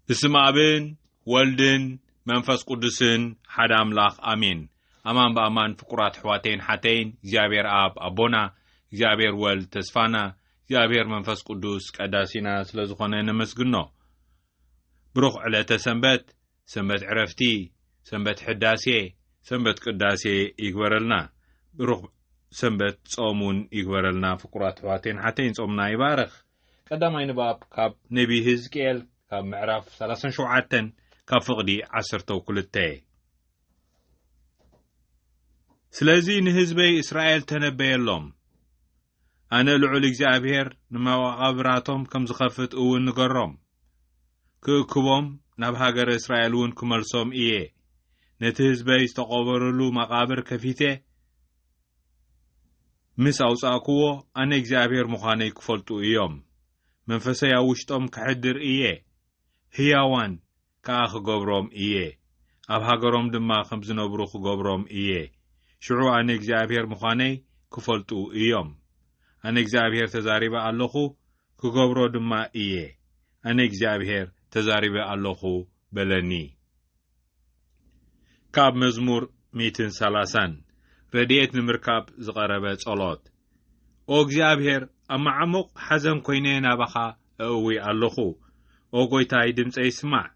ብስም ኣብን ወልድን መንፈስ ቅዱስን ሓደ ኣምላኽ ኣሜን። ኣማን ብኣማን ፍቁራት ኣሕዋተይን ሓተይን እግዚኣብሔር ኣብ ኣቦና እግዚኣብሔር ወልድ ተስፋና እግዚኣብሔር መንፈስ ቅዱስ ቀዳሲና ስለ ዝኾነ ነመስግኖ። ብሩኽ ዕለተ ሰንበት፣ ሰንበት ዕረፍቲ፣ ሰንበት ሕዳሴ፣ ሰንበት ቅዳሴ ይግበረልና። ብሩኽ ሰንበት ጾም እውን ይግበረልና። ፍቁራት ኣሕዋተይን ሓተይን ጾምና ይባርኽ። ቀዳማይ ንባብ ካብ ነቢ ህዝቅኤል ካብ ምዕራፍ ሰላሳን ሸውዓተን ካብ ፍቕዲ ዓሰርተው ክልተ ስለዚ ንህዝበይ እስራኤል ተነበየሎም ኣነ ልዑል እግዚኣብሄር ንመቓብራቶም ከም ዝኸፍት እውን ንገሮም ክእክቦም ናብ ሃገረ እስራኤል እውን ክመልሶም እየ ነቲ ህዝበይ ዝተቐበረሉ መቓብር ከፊተ ምስ ኣውጻእኩዎ ኣነ እግዚኣብሄር ምዃነይ ክፈልጡ እዮም፣ መንፈሰይ ኣብ ውሽጦም ከሕድር እየ፣ ህያዋን ከኣ ክገብሮም እየ፣ ኣብ ሃገሮም ድማ ከም ዝነብሩ ክገብሮም እየ፣ ሽዑ ኣነ እግዚኣብሄር ምዃነይ ክፈልጡ እዮም። ኣነ እግዚኣብሄር ተዛሪበ ኣለኹ፣ ክገብሮ ድማ እየ፣ ኣነ እግዚኣብሄር ተዛሪበ ኣለኹ በለኒ። ካብ መዝሙር ሚእትን ሰላሳን ረድኤት ንምርካብ ዝቐረበ ጸሎት። ኦ እግዚኣብሔር ኣብ መዓሙቕ ሓዘን ኮይነ ናባኻ እእዊ ኣለኹ። ኦ ጎይታይ ድምፀይ ስማዕ፣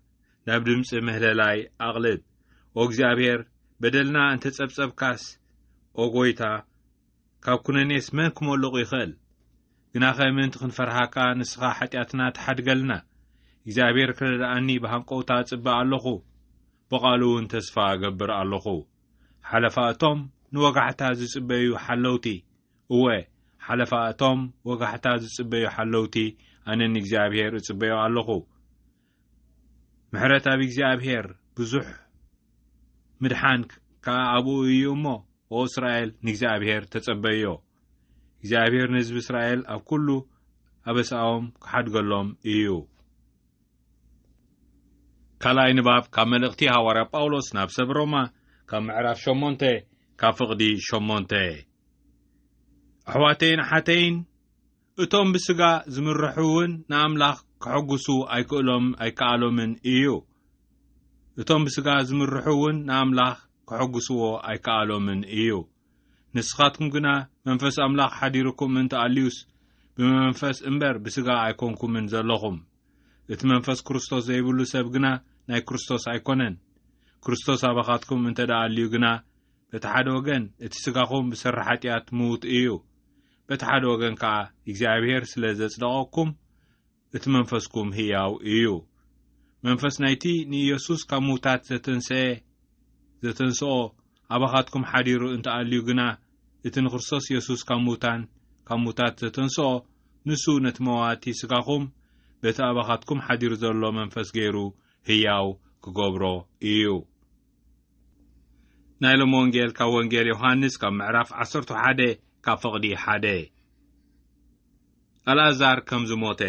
ናብ ድምፂ ምህለላይ ኣቕልብ። ኦ እግዚኣብሔር በደልና እንተጸብጸብካስ፣ ኦ ጎይታ ካብ ኩነኔስ መን ክሞልቑ ይኸእል? ግናኸ ምእንቲ ክንፈርሃካ ንስኻ ሓጢኣትና ተሓድገልና። እግዚኣብሔር ክረድኣኒ ብሃንቆውታ እጽበ ኣሎኹ፣ ብቓሉውን ተስፋ እገብር ኣሎኹ። ሓለፋ እቶም ንወጋሕታ ዝጽበዩ ሓለውቲ፣ እወ፣ ሓለፋ እቶም ወጋሕታ ዝጽበዩ ሓለውቲ ኣነ ንእግዚኣብሔር እጽበዮ ኣሎኹ። ምሕረት ኣብ እግዚኣብሔር ብዙሕ ምድሓን ከኣ ኣብኡ እዩ እሞ ኦ እስራኤል ንእግዚኣብሔር ተጸበዮ እግዚኣብሔር ንህዝቢ እስራኤል ኣብ ኩሉ ኣበሳኦም ክሓድገሎም እዩ ካልኣይ ንባብ ካብ መልእኽቲ ሃዋርያ ጳውሎስ ናብ ሰብ ሮማ ካብ ምዕራፍ ሸሞንተ ካብ ፍቕዲ ሸሞንተ ኣሕዋተይን ኣሓተይን እቶም ብስጋ ዝምርሑ እውን ንኣምላኽ ከሐጉሱ ኣይክእሎም ኣይከኣሎምን እዩ። እቶም ብስጋ ዝምርሑ እውን ንኣምላኽ ከሐጉስዎ ኣይከኣሎምን እዩ። ንስኻትኩም ግና መንፈስ ኣምላኽ ሓዲርኩም እንተ ኣልዩስ ብመንፈስ እምበር ብስጋ ኣይኮንኩምን ዘለኹም። እቲ መንፈስ ክርስቶስ ዘይብሉ ሰብ ግና ናይ ክርስቶስ ኣይኮነን። ክርስቶስ ኣባኻትኩም እንተ ኣልዩ ግና በቲ ሓደ ወገን እቲ ስጋኹም ብሰሪ ሓጢኣት ምዉት እዩ፣ በቲ ሓደ ወገን ከኣ እግዚኣብሔር ስለ ዘጽደቐኩም እቲ መንፈስኩም ህያው እዩ። መንፈስ ናይቲ ንኢየሱስ ካብ ምውታት ዘተንሰኤ ዘተንስኦ ኣባኻትኩም ሓዲሩ እንተ ኣልዩ ግና እቲ ንክርስቶስ ኢየሱስ ካብ ምውታን ካብ ምውታት ዘተንስኦ ንሱ ነቲ መዋቲ ስጋኹም በቲ ኣባኻትኩም ሓዲሩ ዘሎ መንፈስ ገይሩ ህያው ክገብሮ እዩ። ናይ ሎም ወንጌል ካብ ወንጌል ዮሃንስ ካብ ምዕራፍ ዓሰርቱ ሓደ ካብ ፍቕዲ ሓደ ኣልኣዛር ከም ዝሞተ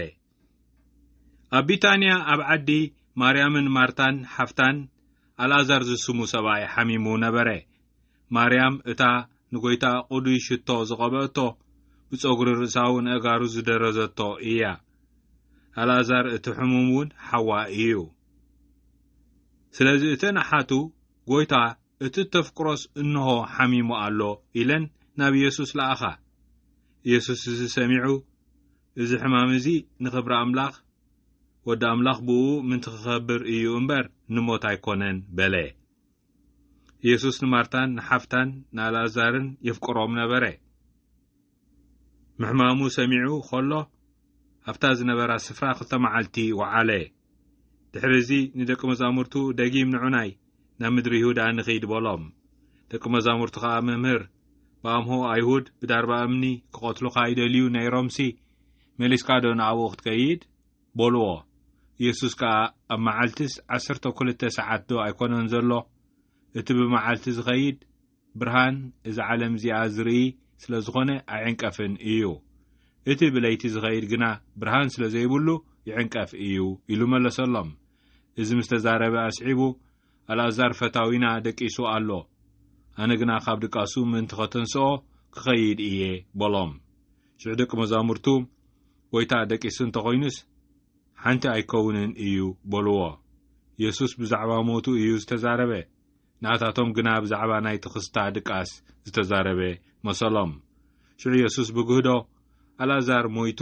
ኣብ ቢታንያ ኣብ ዓዲ ማርያምን ማርታን ሓፍታን ኣልኣዛር ዝስሙ ሰብኣይ ሓሚሙ ነበረ ማርያም እታ ንጐይታ ቁዱይ ሽቶ ዝቐበእቶ ብጸጉሪ ርእሳዊ ንእጋሩ ዝደረዘቶ እያ ኣልኣዛር እቲ ሕሙም እውን ሓዋ እዩ ስለዚ እተን ኣሓቱ፣ ጐይታ፣ እቲ እተፍቅሮስ እንሆ ሓሚሙ ኣሎ ኢለን ናብ የሱስ ለኣኻ። የሱስ እዚ ሰሚዑ፣ እዚ ሕማም እዚ ንኽብሪ ኣምላኽ፣ ወዲ ኣምላኽ ብእኡ ምእንቲ ኺኸብር እዩ እምበር፣ ንሞት ኣይኰነን በለ። የሱስ ንማርታን ንሓፍታን ንኣልኣዛርን የፍቅሮም ነበረ። ምሕማሙ ሰሚዑ ኸሎ ኣብታ ዝነበራ ስፍራ ክልተ መዓልቲ ወዓለ። ድሕሪ እዚ ንደቂ መዛሙርቱ ደጊም ንዑናይ ናብ ምድሪ ይሁዳ ንኺድ በሎም። ደቂ መዛሙርቱ ኸኣ መምህር ብኣምሆ ኣይሁድ ብዳርባ እምኒ ክቐትሉኻ ይደልዩ ነይሮምሲ መሊስካዶ ንኣብኡ ክትከይድ? በልዎ። ኢየሱስ ከኣ ኣብ መዓልትስ ዓሰርተ ክልተ ሰዓትዶ ኣይኮነን ዘሎ? እቲ ብመዓልቲ ዝኸይድ ብርሃን እዛ ዓለም እዚኣ ዝርኢ ስለ ዝዀነ ኣይዕንቀፍን እዩ። እቲ ብለይቲ ዝኸይድ ግና ብርሃን ስለ ዘይብሉ ይዕንቀፍ እዩ ኢሉ መለሰሎም። እዚ ምስ ተዛረበ ኣስዒቡ ኣልኣዛር ፈታዊና ደቂሱ ኣሎ። ኣነ ግና ካብ ድቃሱ ምእንቲ ኸተንስኦ ክኸይድ እየ በሎም። ሽዑ ደቂ መዛሙርቱ ጐይታ ደቂሱ እንተ ዀይኑስ ሓንቲ ኣይከውንን እዩ በልዎ። የሱስ ብዛዕባ ሞቱ እዩ ዝተዛረበ። ንኣታቶም ግና ብዛዕባ ናይ ትኽስታ ድቃስ ዝተዛረበ መሰሎም። ሽዑ የሱስ ብግህዶ፣ ኣልኣዛር ሞይቱ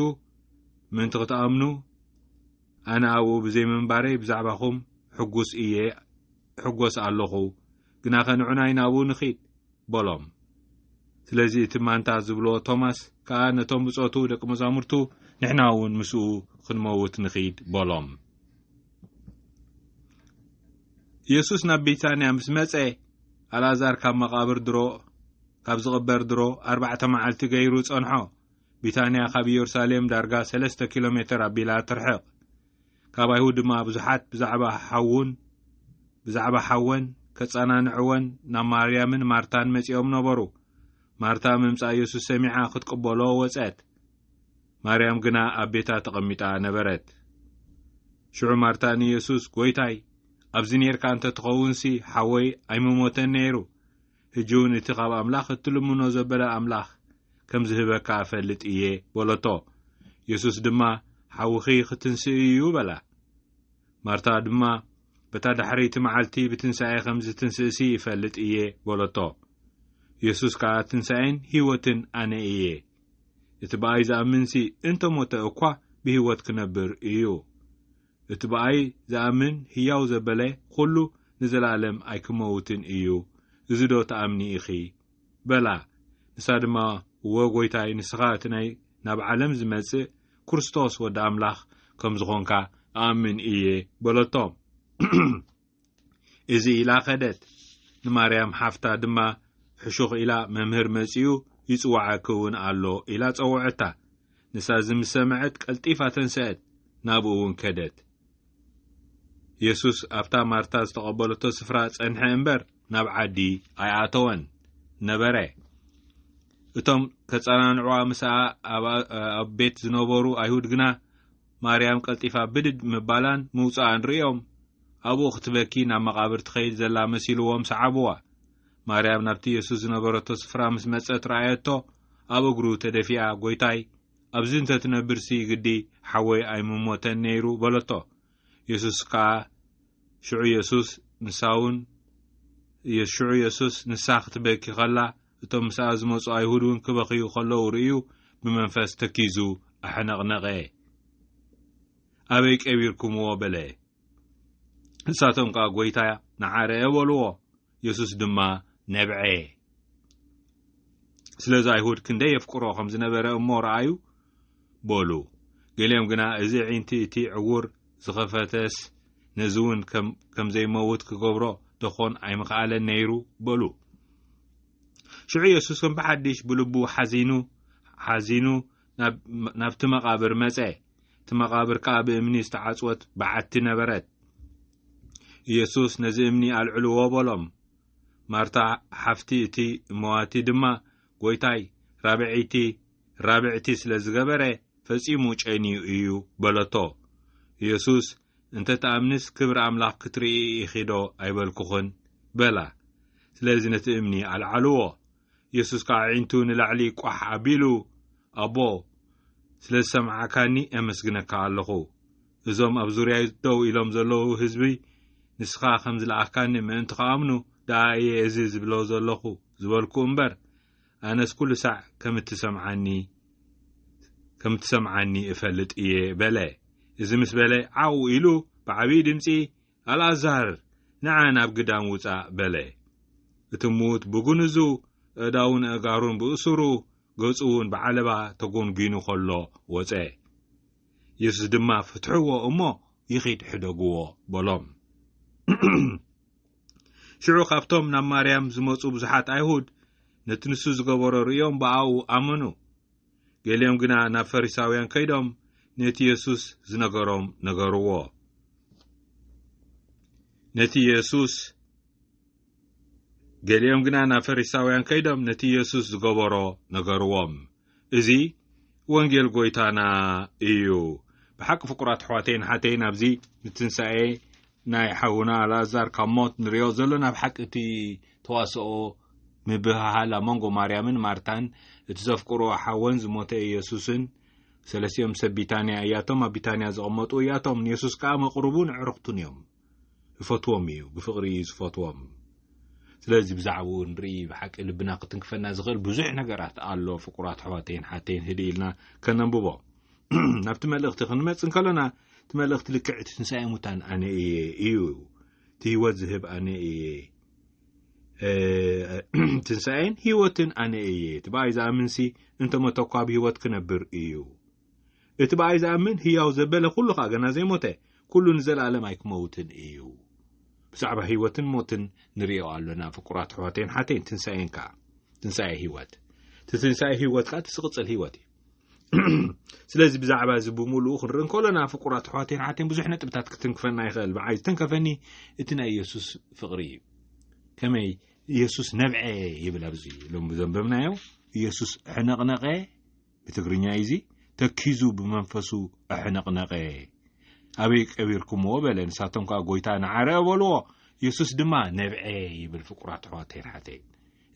ምእንቲ ኽትኣምኑ፣ ኣነ ኣብኡ ብዘይ ምንባረይ ብዛዕባኹም ሕጉስ እየ እሕጐስ ኣሎኹ፣ ግናኸ ንዑናይ ናብኡ ንኺድ። በሎም። ስለዚ እቲ ማንታ ዝብሎ ቶማስ ከኣ ነቶም ብጾቱ ደቂ መዛሙርቱ ንሕና እውን ምስኡ ክንመውት ንኺድ በሎም። ኢየሱስ ናብ ቢታንያ ምስ መጸ ኣልኣዛር ካብ መቓብር ድሮ ካብ ዝቕበር ድሮ ኣርባዕተ መዓልቲ ገይሩ ጸንሖ። ቢታንያ ካብ ኢየሩሳሌም ዳርጋ ሰለስተ ኪሎ ሜተር ኣቢላ ትርሕቕ። ካብ ኣይሁድ ድማ ብዙሓት ብዛዕባ ሓዉን ብዛዕባ ሓወን ከጸናንዕወን ናብ ማርያምን ማርታን መጺኦም ነበሩ። ማርታ ምምጻእ የሱስ ሰሚዓ ክትቅበሎ ወጸት። ማርያም ግና ኣብ ቤታ ተቐሚጣ ነበረት። ሽዑ ማርታ ንየሱስ ጐይታይ ኣብዚ ኔርካ እንተ ትኸውንሲ ሓወይ ኣይምሞተን ነይሩ። ሕጂ እውን እቲ ኻብ ኣምላኽ እትልምኖ ዘበለ ኣምላኽ ከም ዚህበካ እፈልጥ እየ በሎቶ። የሱስ ድማ ሓውኺ ኽትንስእ እዩ በላ። ማርታ ድማ በታ ዳሕረይቲ መዓልቲ ብትንሳኤ ኸም ዚትንስእሲ እፈልጥ እየ በሎቶ። የሱስ ከኣ ትንሳኤን ህይወትን ኣነ እየ። እቲ ብኣይ ዝኣምንሲ እንተ ሞተ እኳ ብህይወት ኪነብር እዩ። እቲ ብኣይ ዝኣምን ህያው ዘበለ ዅሉ ንዘለኣለም ኣይኪመውትን እዩ፣ እዚዶ ትኣምኒ ኢኺ? በላ። ንሳ ድማ እወ ጐይታይ ንስኻ እቲ ናይ ናብ ዓለም ዝመጽእ ክርስቶስ ወዲ ኣምላኽ ከም ዝኾንካ እኣምን እየ በለቶ። እዚ ኢላ ከደት። ንማርያም ሓፍታ ድማ ሕሹኽ ኢላ መምህር መጺኡ ይጽዋዓኪ እውን ኣሎ ኢላ ጸውዐታ። ንሳ እዚ ምስ ሰምዐት ቀልጢፋ ተንሰአት፣ ናብኡ እውን ከደት። የሱስ ኣብታ ማርታ ዝተቐበለቶ ስፍራ ጸንሐ እምበር ናብ ዓዲ ኣይኣተወን ነበረ። እቶም ከጸናንዕዋ ምስኣ ኣብ ቤት ዝነበሩ ኣይሁድ ግና ማርያም ቀልጢፋ ብድድ ምባላን ምውጻኣን ርእዮም፣ ኣብኡ ክትበኪ ናብ መቓብር ትኸይድ ዘላ መሲልዎም ሰዓብዋ። ማርያም ናብቲ የሱስ ዝነበረቶ ስፍራ ምስ መጸት ረኣየቶ፣ ኣብ እግሩ ተደፊኣ፣ ጐይታይ፣ ኣብዚ እንተ ትነብርሲ ግዲ ሓወይ ኣይምሞተን ነይሩ በለቶ። የሱስ ከኣ ሽዑ የሱስ ንሳውን ሽዑ የሱስ ንሳ ክትበኪ ከላ፣ እቶም ምስኣ ዝመጹ ኣይሁድ እውን ክበኽዩ ከለዉ ርእዩ ብመንፈስ ተኪዙ ኣሕነቕነቐ። ኣበይ ቀቢርኩምዎ? በለ። ንሳቶም ከኣ ጐይታ ንዓ ርአ በልዎ። የሱስ ድማ ነብዐ። ስለዚ ኣይሁድ ክንደይ የፍቅሮ ከም ዝነበረ እሞ ረኣዩ። በሉ። ገሊኦም ግና እዚ ኣዒንቲ እቲ ዕዉር ዝኸፈተስ ነዚውን ከም ዘይመውት ክገብሮ ደኾን ኣይምኸኣለን ነይሩ? በሉ። ሽዑ የሱስ ከም ብሓድሽ ብልቡ ሓዚኑ ሓዚኑ ናብቲ መቓብር መጸ። እቲ መቓብር ከኣ ብእምኒ ዝተዓጽወት በዓቲ ነበረት። ኢየሱስ ነዚ እምኒ ኣልዕልዎ በሎም ማርታ ሓፍቲ እቲ መዋቲ ድማ ጐይታይ ራብዐይቲ ራብዕቲ ስለ ዝገበረ ፈጺሙ ጨንዩ እዩ በለቶ። የሱስ፣ እንተ ትኣምኒስ ክብሪ ኣምላኽ ክትርኢ ኢኺዶ ኣይበልኩኽን? በላ። ስለዚ ነቲ እምኒ ኣልዓልዎ። የሱስ ከኣ ኣዒንቱ ንላዕሊ ቋሕ ኣቢሉ፣ ኣቦ፣ ስለ ዝሰማዕካኒ ኣመስግነካ ኣለኹ። እዞም ኣብ ዙርያይ ደው ኢሎም ዘለዉ ህዝቢ ንስኻ ከም ዝለኣኽካኒ ምእንቲ ኽኣምኑ ደኣ እየ እዚ ዝብሎ ዘለኹ ዝበልኩ እምበር፣ ኣነስ ኩሉ ሳዕ ከም እትሰምዓኒ ከም እትሰምዓኒ እፈልጥ እየ በለ። እዚ ምስ በለ ዓው ኢሉ ብዓብዪ ድምፂ ኣልኣዛር ንዓ ናብ ግዳም ውፃእ በለ። እቲ ምዉት ብጉንዙ ኣእዳውን ኣእጋሩን ብእሱሩ ገፁ እውን ብዓለባ ተጎንጒኑ ከሎ ወፀ። የሱስ ድማ ፍትሕዎ እሞ ይኺድ ሕደግዎ በሎም። ሽዑ ካብቶም ናብ ማርያም ዝመጹ ብዙሓት ኣይሁድ ነቲ ንሱ ዝገበሮ ርእዮም ብኣኡ ኣመኑ። ገሊኦም ግና ናብ ፈሪሳውያን ከይዶም ነቲ የሱስ ዝነገሮም ነገርዎ። ነቲ የሱስ ገሊኦም ግና ናብ ፈሪሳውያን ከይዶም ነቲ የሱስ ዝገበሮ ነገርዎም እዚ ወንጌል ጐይታና እዩ ብሓቂ ፍቁራት ኣሕዋተይን ሓተይን ኣብዚ ንትንሳኤ ናይ ሓውና ኣልኣዛር ካብ ሞት ንሪኦ ዘሎ ናብ ሓቂ እቲ ተዋስኦ ምብህሃል ኣብ መንጎ ማርያምን ማርታን እቲ ዘፍቅሮ ሓወን ዝሞተ ኢየሱስን ሰለስቲኦም ሰብ ቢታንያ እያቶም ኣብ ቢታንያ ዝቐመጡ እያቶም ንየሱስ ከኣ መቕርቡን ኣዕርኽቱን እዮም ይፈትዎም እዩ ብፍቕሪ እዩ ዝፈትዎም ስለዚ ብዛዕባኡ ንርኢ ብሓቂ ልብና ክትንክፈና ዝኽእል ብዙሕ ነገራት ኣሎ ፍቁራት ኣሕዋተይን ሓተይን ህድኢልና ከነንብቦ ናብቲ መልእኽቲ ክንመጽ እንከሎና እቲ መልእኽቲ ልክዕ እቲ ትንሳኤ ሙታን ኣነ እየ እዩ እቲ ህይወት ዝህብ ኣነ እየ ትንሳኤን ህይወትን ኣነ እየ እቲ ብኣይ ዝኣምንሲ እንተሞተ እኳ ብ ህይወት ክነብር እዩ እቲ ብኣይ ዝኣምን ህያው ዘበለ ኩሉ ኸዓ ገና ዘይሞተ ኩሉ ንዘለኣለም ኣይክመውትን እዩ ብዛዕባ ህይወትን ሞትን ንርእዮ ኣሎና ፍቁራት ኣሕዋተይን ሓተይን ትንሳኤን ከኣ ትንሳኤ ህይወት እቲ ትንሳኤ ህይወት ከኣ እቲ ዝቕጽል ህይወት እዩ ስለዚ ብዛዕባ እዚ ብምሉኡ ክንርኢ እንከሎና ፍቁራት ኣሕዋቴን ሓቴን ብዙሕ ነጥብታት ክትንክፈና ይኽእል ብዓይ ዝተንከፈኒ እቲ ናይ የሱስ ፍቕሪ እዩ ከመይ የሱስ ነብዐ ይብል ኣብዚ ሎም ዘንበብናዮ የሱስ ኣሕነቕነቐ ብትግርኛ እዩ እዚ ተኪዙ ብመንፈሱ ኣሕነቕነቐ ኣበይ ቀቢርኩምዎ በለ ንሳቶም ከዓ ጎይታ ንዓረ በልዎ የሱስ ድማ ነብዐ ይብል ፍቁራት ኣሕዋቴን ሓቴን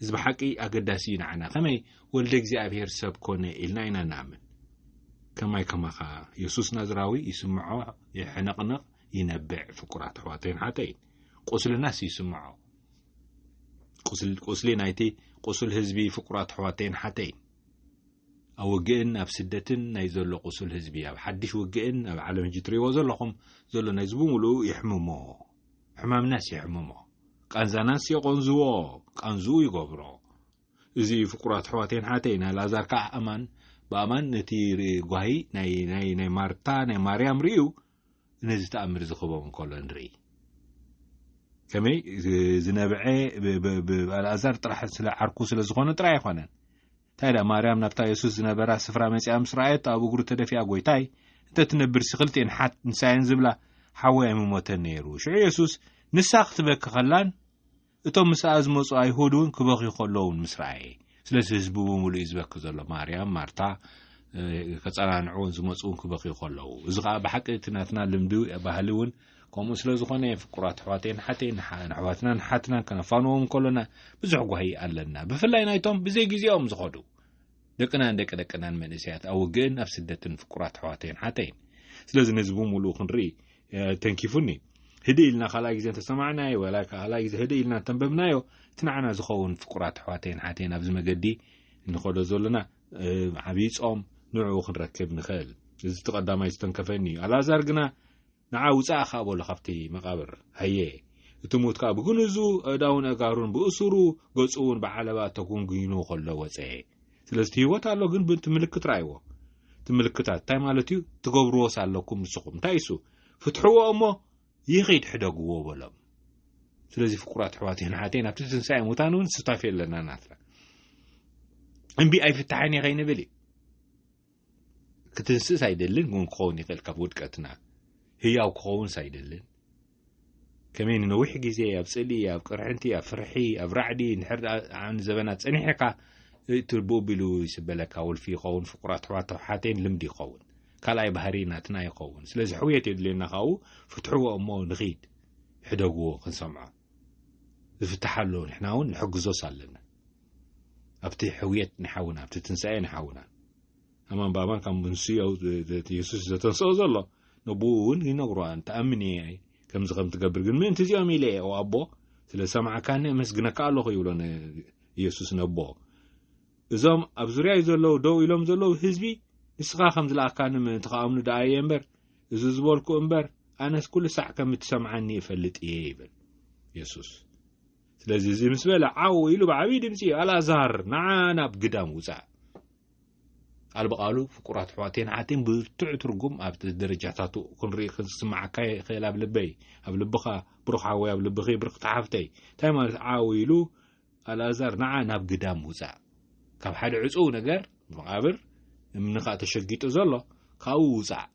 እዚ ብሓቂ ኣገዳሲ እዩ ንዓና ከመይ ወልደ እግዚኣብሄር ሰብ ኮነ ኢልና ኢና ንኣምን ከማይ ከማኻ የሱስ ናዝራዊ ይስምዖ ይሕንቕንቕ ይነብዕ ፍቁራት ኣሕዋተይን ሓተይን ቁስልናስ ይስምዖ ቁስሊ ናይቲ ቁስል ህዝቢ ፍቁራት ኣሕዋተይን ሓተይን ኣብ ውግእን ኣብ ስደትን ናይ ዘሎ ቁስል ህዝቢ ኣብ ሓድሽ ውግእን ኣብ ዓለም ህጂ ትርእይዎ ዘለኹም ዘሎ ናይዚ ብምሉኡ የሕምሞ ሕማምናስ የሕምሞ ቃንዛናስ የቆንዝዎ ቃንዝኡ ይገብሮ እዚ ፍቁራት ኣሕዋተይን ሓተይን ናይ ላዛር ከዓ ኣማን ብኣማን ነቲ ጓሂ ናይ ማርታ ናይ ማርያም ርእዩ ነዚ ተኣምር እዚ ክበም እንከሎ ንርኢ ከመይ ዝነብዐ ኣልኣዛር ጥራሕ ስለ ዓርኩ ስለ ዝኾነ ጥራይ ኣይኮነን እንታይ ደኣ ማርያም ናብታ የሱስ ዝነበራ ስፍራ መጺኣ ምስ ረኣየቶ ኣብ እግሩ ተደፊኣ ጐይታይ እንተ ትነብርሲ ክልቲኤን ሓት ንሳየን ዝብላ ሓወይ ኣይምሞተን ነይሩ። ሽዑ የሱስ ንሳ ክትበኪ ከላን እቶም ምስኣ ዝመጹ ኣይሁድ እውን ክበኽዩ ከለዉን ምስ ረኣየ ስለዚ ህዝቢ ብምሉእ እዩ ዝበኪ ዘሎ ማርያም ማርታ ከጸናንዕዎን ዝመጽኡን ክበኽዩ ከለዉ እዚ ከዓ ብሓቂ እቲ ናትና ልምዲ ባህሊ እውን ከምኡ ስለ ዝኾነ ፍቁራት ኣሕዋተይን ሓተይን ንኣሕዋትናን ሓትናን ከነፋንዎም ከሎና ብዙሕ ጓሂ ኣለና ብፍላይ ናይቶም ብዘይ ግዜኦም ዝኸዱ ደቅናን ደቂ ደቅናን መንእሰያት ኣብ ውግእን ኣብ ስደትን ፍቁራት ኣሕዋተይን ሓተይን ስለዚ ነዚ ብምሉኡ ክንርኢ ተንኪፉኒ ህዲ ኢልና ካልኣይ ግዜ እንተሰማዕናዮ ወላ ካልኣይ ግዜ ህዲ ኢልና እንተንበብናዮ እቲ ንዓና ዝኸውን ፍቁራት ኣሕዋተይን ሓተይን ኣብዚ መገዲ ንኸዶ ዘለና ዓብዪ ጾም ንዕኡ ክንረክብ ንኽእል እዚ እቲ ቀዳማይ ዝተንከፈኒ እዩ ኣልኣዛር ግና ንዓ ውጻእ እኻ በሎ ካብቲ መቓብር። ሃየ! እቲ ሙት ከኣ ብግንዙ ኣእዳዉን ኣእጋሩን ብእሱሩ ገጹ'ውን ብዓለባ ተጎንጒኑ ከሎ ወጸ። ስለዚ እቲ ህይወት ኣሎ ግን ብቲ ምልክት ረኣይዎ። እቲ ምልክታት እንታይ ማለት እዩ? ትገብርዎስ ኣለኩም ንስኹም። እንታይ እሱ? ፍትሕዎ እሞ ይኺድ ሕደግዎ በሎም። ስለዚ ፍቁራት ኣሕዋተይን ኣሓተይን ኣብቲ ትንሳኤ ሙታን እውን ሱታፌ ኣለና ናትና። እምቢ ኣይፍታሕን እየ ከይንብል እዩ። ክትንስእስ ኣይደልን እውን ክኸውን ይኽእል ካብ ውድቀትና ህያው ክኸውንስ ኣይደልን ከመይ ንነዊሕ ግዜ ኣብ ጽሊ ኣብ ቅርሕንቲ ኣብ ፍርሒ ኣብ ራዕዲ ንሕር ዘበና ጸኒሕካ እቲ ብኡ ቢሉ ይስበለካ ወልፊ ይኸውን ፍቁራት ኣሕዋት ተውሓቴን ልምዲ ይኸውን ካልኣይ ባህሪ ናትና ይኸውን ስለዚ ሕውየት የድልየና ካብኡ ፍትሕዎ እሞ ንኺድ ሕደግዎ ክንሰምዖ ዝፍትሓ ኣሎ ንሕና እውን ንሕግዞስ ኣለና ኣብቲ ሕውየት ንሓውና ኣብቲ ትንሳኤ ንሓውና ኣማን ብኣማን ካብ ምንስዮ የሱስ ዘተንስኦ ዘሎ ነብኡ እውን ይነግሮ እንተኣምን እየ ከምዚ ከም ትገብር ግን ምእንቲ እዚኦም ኢለ እየ ኣቦ ስለ ዝሰማዕካኒ ኣመስግነካ ኣለኹ ይብሎ ንየሱስ ነቦ እዞም ኣብ ዙርያይ ዘለዉ ደው ኢሎም ዘለዉ ህዝቢ ንስኻ ከም ዝለኣካኒ ምእንቲ ከኣምኑ ደኣ እየ እምበር እዚ ዝበልኩ እምበር ኣነስ ኩሉ ሳዕ ከም እትሰምዓኒ እፈልጥ እየ ይብል የሱስ ስለዚ እዚ ምስ በለ ዓው ኢሉ ብዓብዪ ድምፂ ኣልኣዛር ንዓ ናብ ግዳም ውፃእ ቃል ብቃሉ ፍቁራት ኣሕዋተይን ኣሓተይን ብርቱዕ ትርጉም ኣብቲ ደረጃታቱ ክንርኢ ክንስምዓካ ይኽእል ኣብ ልበይ ኣብ ልብኻ ብሩኽ ሓወይ ኣብ ልብኺ ብርክቲ ሓፍተይ እንታይ ማለት ዓው ኢሉ ኣልኣዛር ንዓ ናብ ግዳም ውፃእ ካብ ሓደ ዕፁው ነገር መቓብር እምንኻ ተሸጊጡ ዘሎ ካብኡ ውፃእ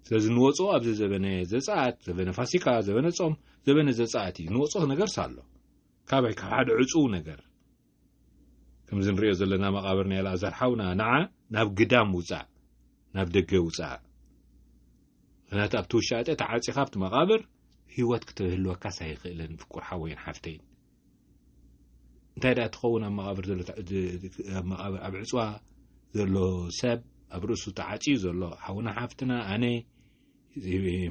ስለዚ ንወፅኦ ኣብዚ ዘበነ ዘፀኣት ዘበነ ፋሲካ ዘበነ ጾም ዘበነ ዘፀኣት እዩ ንወፅኦ ነገርስ ኣሎ ካበይ ካብ ሓደ ዕፁው ነገር ከምዚ ንሪኦ ዘለና መቓብር ናይ ኣልኣዛር ሓውና ንዓ ናብ ግዳም ውፃእ ናብ ደገ ውፃእ ምክንያቱ ኣብቲ ውሻጠ ተዓፂኻ ኣብቲ መቓብር ህይወት ክትህልወካስ ኣይኽእልን ፍቁር ሓወይን ሓፍተይን እንታይ ደኣ ትኸውን ኣብ መቓብር ዘሎ ኣብ ዕፅዋ ዘሎ ሰብ ኣብ ርእሱ ተዓፅዩ ዘሎ ሓውና ሓፍትና ኣነ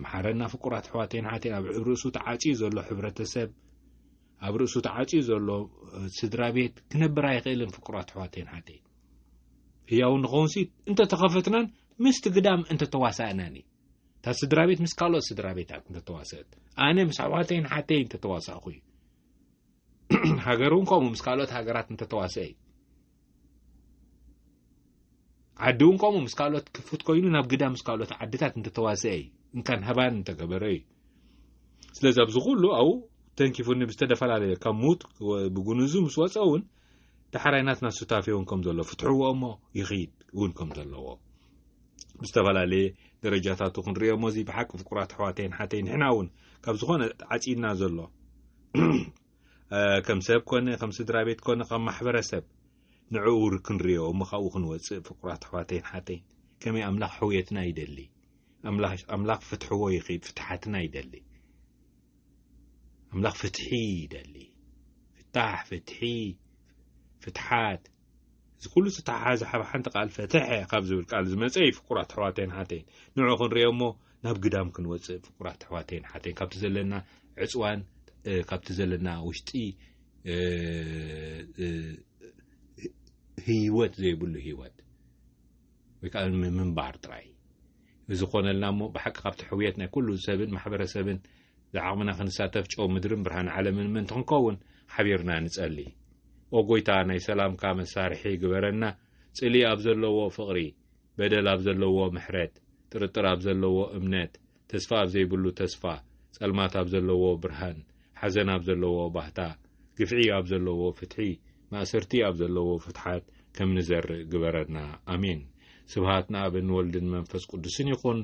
መሓረና ፍቁራት ኣሕዋተይን ሓተይ ኣብ ርእሱ ተዓፅዩ ዘሎ ሕብረተሰብ ኣብ ርእሱ ተዓፅዩ ዘሎ ስድራ ቤት ክነብር ኣይኽእልን ፍቁራት ኣሕዋተይን ሓተይ ህያው ንኸውንሲ እንተተኸፈትናን ምስቲ ግዳም እንተተዋሳእናን እዩ እታ ስድራ ቤት ምስ ካልኦት ስድራ ቤታት እንተተዋሰእት ኣነ ምስ ኣሕዋተይን ሓተይን እንተተዋሳእኹ እዩ ሃገር እውን ከምኡ ምስ ካልኦት ሃገራት እንተተዋሰአ እዩ ዓዲ እውን ከምኡ ምስ ካልኦት ክፉት ኮይኑ ናብ ግዳ ምስ ካልኦት ዓድታት እንተተዋሰአ እዩ እንካን ሃባን እንተገበረ እዩ ስለዚ ኣብዚ ኩሉ ኣብኡ ተንኪፉኒ ብዝተፈላለየ ካብ ሙት ብጉንዙ ምስ ወፀ እውን ዳሕራይ ናትና ሱታፌ እውን ከም ዘሎ ፍትሕዎ እሞ ይኽይድ እውን ከም ዘለዎ ብዝተፈላለየ ደረጃታቱ ክንሪኦ እሞ እዚ ብሓቂ ፍቁራት ኣሕዋተይን ሓተይ ንሕና እውን ካብ ዝኾነ ዓፂና ዘሎ ከም ሰብ ኮነ ከም ስድራ ቤት ኮነ ካብ ማሕበረሰብ ንዕኡ ክንሪኦ እሞ ካብኡ ክንወፅእ ፍቁራት ኣሕዋተይን ሓተይን ከመይ ኣምላኽ ሕውየትና ይደሊ ኣምላኽ ፍትሕዎ ይኽድ ፍትሓትና ይደሊ ኣምላኽ ፍትሒ ይደሊ ፍታሕ ፍትሒ ፍትሓት እዚ ኩሉ ዝተተሓሓዘ ሓብ ሓንቲ ቃል ፈተሐ ካብ ዝብል ቃል ዝመጸ እዩ ፍቁራት ኣሕዋተይን ሓተይን ንዑ ክንሪኦ እሞ ናብ ግዳም ክንወጽእ ፍቁራት ኣሕዋተይን ሓተይን ካብቲ ዘለና ዕጽዋን ካብቲ ዘለና ውሽጢ ህይወት ዘይብሉ ህይወት ወይ ከዓ ምንባር ጥራይ ንዝኾነልና እሞ ብሓቂ ካብቲ ሕውየት ናይ ኩሉ ሰብን ማሕበረሰብን ዝዓቕምና ክንሳተፍ ጨው ምድርን ብርሃን ዓለምን ምእንቲ ክንከውን ሓቢርና ንጸሊ። ኦ ጎይታ ናይ ሰላምካ መሳርሒ ግበረና ጽልኢ ኣብ ዘለዎ ፍቕሪ፣ በደል ኣብ ዘለዎ ምሕረት፣ ጥርጥር ኣብ ዘለዎ እምነት፣ ተስፋ ኣብ ዘይብሉ ተስፋ፣ ጸልማት ኣብ ዘለዎ ብርሃን፣ ሓዘን ኣብ ዘለዎ ባህታ፣ ግፍዒ ኣብ ዘለዎ ፍትሒ፣ ማእሰርቲ ኣብ ዘለዎ ፍትሓት ከም ንዘርእ ግበረና። ኣሜን። ስብሃት ንኣብን ንወልድን መንፈስ ቅዱስን ይኹን፣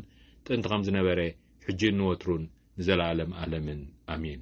ጥንቲ ከም ዝነበረ፣ ሕጂን ንወትሩን ንዘለኣለም ኣለምን። ኣሜን።